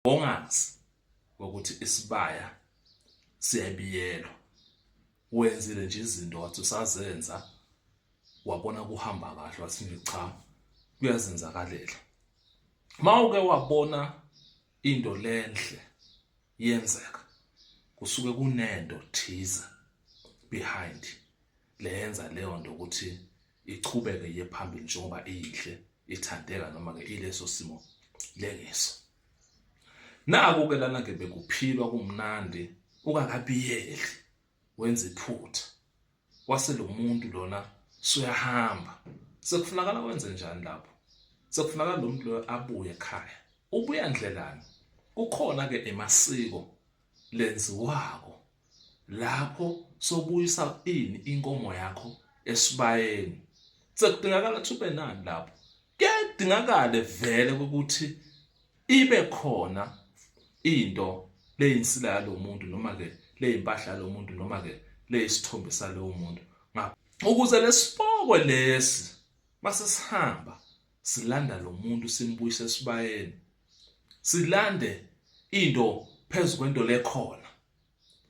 ongazi ukuthi isibaya siyabiyelwa wenzile nje izinto wathi usazenza wabona kuhamba kahle wathi cha kuyazenzakalela mawuke wabona into lenhle yenzeka kusuke kunento thize behind leyenza leyo nto ukuthi ichubeke ye phambili njengoba iyinhle ithandeka noma ke ileso simo lengiso naku ke lana ke bekuphilwa kumnandi ukakabiyeli wenza iphutha wase lo muntu lona suyahamba sekufunakala wenze njani lapho sekufunakala lo muntu loyo abuye ekhaya ubuya ndlelani kukhona ke emasiko lenziwako lapho sobuyisa ini inkomo yakho esibayeni sekudingakala ukuthi ube nani lapho kuyadingakale vele ukuthi ibe khona into leyinsila yalomuntu noma ke leyimpahla lomuntu noma ke leyisithombe salowo muntu ukuze lesipokwe lesi masesihamba silanda lo muntu simbuyise esibayeni silande into phezu kwento lekhona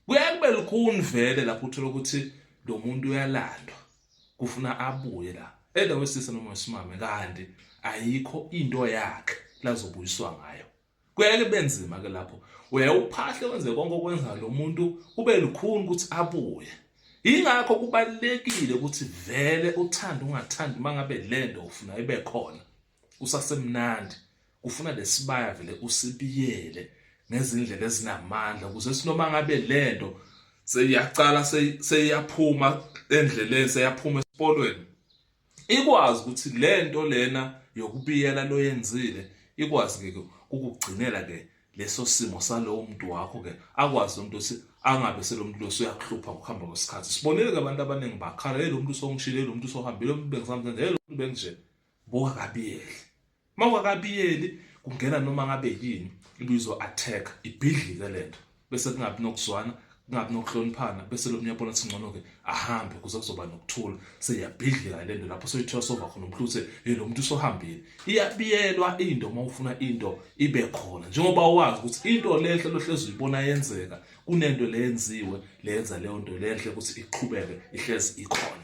kuyaye kube lukhuni vele lapho uthola ukuthi lo muntu uyalandwa kufuna abuye la either wesisa noma wesimame kanti ayikho into yakhe lazobuyiswa ngayo Kuyake kube nzima ke lapho. Uyaye uphahle wenze konke okwenza lo muntu kube lukhuni ukuthi abuye. Yingakho kubalekile ukuthi vele uthanda ungathandi mangabe lento ufuna ibe khona. Kusasemnandi. Ufuna lesibaya vele usibiyele ngezindlela ezinamandla ukuze sinoma ngabe lento seyiyaqala seyiyaphuma endleleni seyaphuma esikolweni ikwazi ukuthi le nto lena yokubiyela loyenzile ikwazi ke kukugcinela ke leso simo salowo muntu wakho ke akwazi lo muntu ukuthi angabe selomuntu lo uyakuhlupha ukuhamba kwesikhathi sibonile ke abantu abaningi bakhala hey lo muntu usongishile lo muntu usohambile lo muntu bengisamthanda hey lo muntu benje buka kabiyele Uma ungakabiyeli kungena noma ngabe yini ibizo attack ibhidlike lento bese kungabi nokuzwana kungabi nokuhloniphana bese lo myabona ukuthi ngcono ke ahambe kuze kuzoba nokuthula seyabhidlika le nto lapho soyithiwa sova khona umuntu uthe yena lo muntu usohambile iyabiyelwa into uma ufuna into ibe khona njengoba wazi ukuthi into lenhle lohlezi uyibona yenzeka kunento leyenziwe leyenza leyo nto lenhle ukuthi iqhubeke ihlezi ikhona